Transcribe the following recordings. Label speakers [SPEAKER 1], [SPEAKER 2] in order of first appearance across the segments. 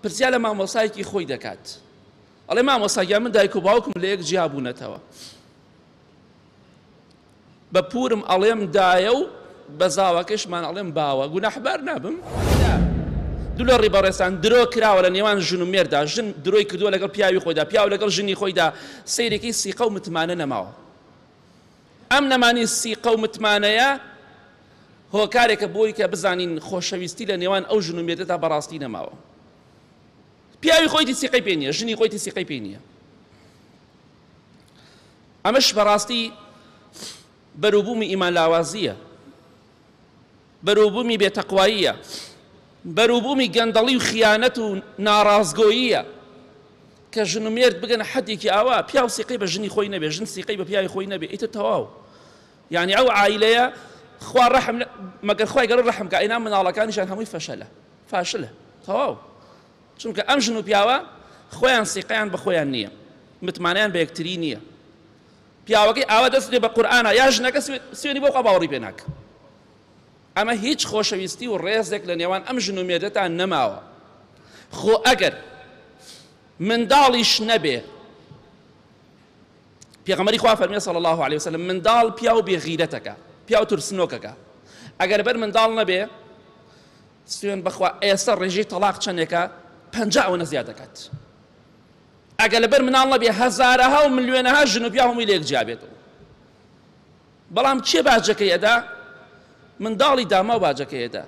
[SPEAKER 1] پرسیار لە مامۆستایەکی خۆی دەکات ئەڵێ مامۆستا گیان من دایک و باوکم لە یەک جیا بوونەتەوە بە پورم ئەڵێم دایە و بە زاوەکەشمان ئەڵێم باوە گوناحبار نابم دوو لە ڕیبەڕێستان درۆ کراوە لە نێوان ژن و مێردا ژن درۆی کردووە لەگەڵ پیاوی خۆیدا پیاو لەگەڵ ژنی خۆیدا سیرێکی سیقە و متمانە نەماوە ئەم نەمانی سیقە و متمانەیە هۆکارێکە بۆی کە بزانین خۆشەویستی لە نێوان ئەو ژن و مێردەدا بەڕاستی نەماوە. پیاوی خۆیتی سیقەی پێ نییە، ژنی خۆیتی سیقەی پێی نییە. ئەمەش بەڕاستی بەروبوومی ئیمان لاوازییە بەروبومی بێ تەقواییە، بەروبومی گەندەڵی و خیانەت و ناڕاستگۆییە، کە ژن و مێرد بگەنە حەدێکی ئاوا پیاو سیقەی بە ژنی خۆی نەبێ، ژن سیقەی بە پیاوی خۆی نەبێ ئیتر تەواو یانی ئەو عایلەیە خوا ڕەحم مەگەر خوای گەورە ڕەحم کا ئینا مناڵەکانیشان هەمووی فەشەلە فاشلە تەواو چونکە ئەم ژن و پیاوە خۆیان سیقەیان بە خۆیان نییە متمانەیان بە یەکتری نییە پیاوەکەی ئاوا دەست دێ بە قورئانا یا ژنەکە سوێنی بۆ خوا باوەڕی پێ ناکەم ئەمە هیچ خۆشەویستی و ڕێزێک لە نێوان ئەم ژن و مێردەتا نەماوە خۆ ئەگەر منداڵیش نەبێ پێغەمەری خوا فەرمی صلی الله علیه وسلم منداڵ پیاو بێ غیرەتەکە پیاو ترسنۆکەکە ئەگەر بەر منداڵ نەبێ سوێن بەخوا ئێستا ڕێژەی تەلاق چەندێکە پەنجا ئەوەنە زیاد دەکات ئەگەر لەبەر مناڵ نەبێ هەزارەها و ملیۆنەها ژن و پیاو هەمووی لێک جیا بێتەوە بەڵام کێ باجەکەی ئەدا منداڵی داماو باجەکەی ئەدا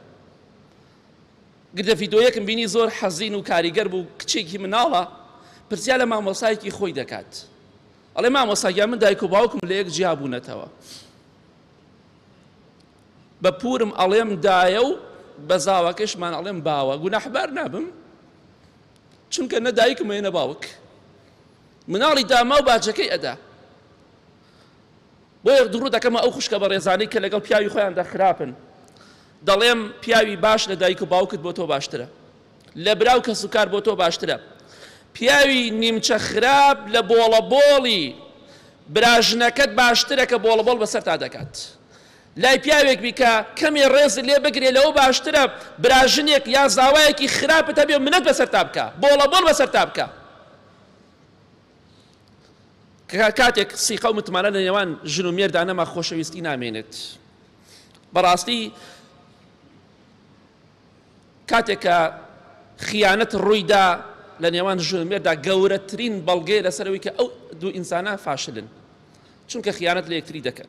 [SPEAKER 1] گردە ڤیدۆیەکم بینی زۆر حەزین و کاریگەر بوو کچێکی مناڵە پرسیار لە مامۆسایەکی خۆی دەکات ئەڵێ مامۆساگیان من دایک و باوکم لە یەک جیا بوونەتەوە بە پورم ئەڵێم دایە و بە زاواکەشمان ئەڵێم باوە گوناحبار نابم چونکە نە دایکم هەیە نە باوک مناڵی داماو باجەکەی ئەدا بۆیە دڕوو دەکەمە ئەو خوشکە بە ڕێزانەی کە لەگەڵ پیاوی خۆیاندا خراپن دەڵێم پیاوی باش لە دایک و باوکت بۆ تۆ باشترە لە براو کەس و کار بۆ تۆ باشترە پیاوی نیمچە خراپ لە بۆڵە بۆڵی براژنەکەت باشترە کە بۆڵە بۆڵ بەسەر تا دەکات لای پیاوێک بی کە کەمێ ڕێزت لێ بگرێ لەوە باشترە برا ژنێک یا زاوایەکی خراپت هەبێ و منەت بەسەرتا بکا بۆڵە بۆڵ بەسەرتا بکا کە کاتێک سیقە و متمانە لە نێوان ژن و مێردا نەما خۆشەویستی نامێنێت بەڕاستی کاتێک کە خیانەت ڕوویدا لە نێوان ژن و مێردا گەورەترین بەڵگەیە لەسەرەوەی کە ئەو دوو ئینسانە فاشلن چونکە خیانەت لە یەکتری دەکەن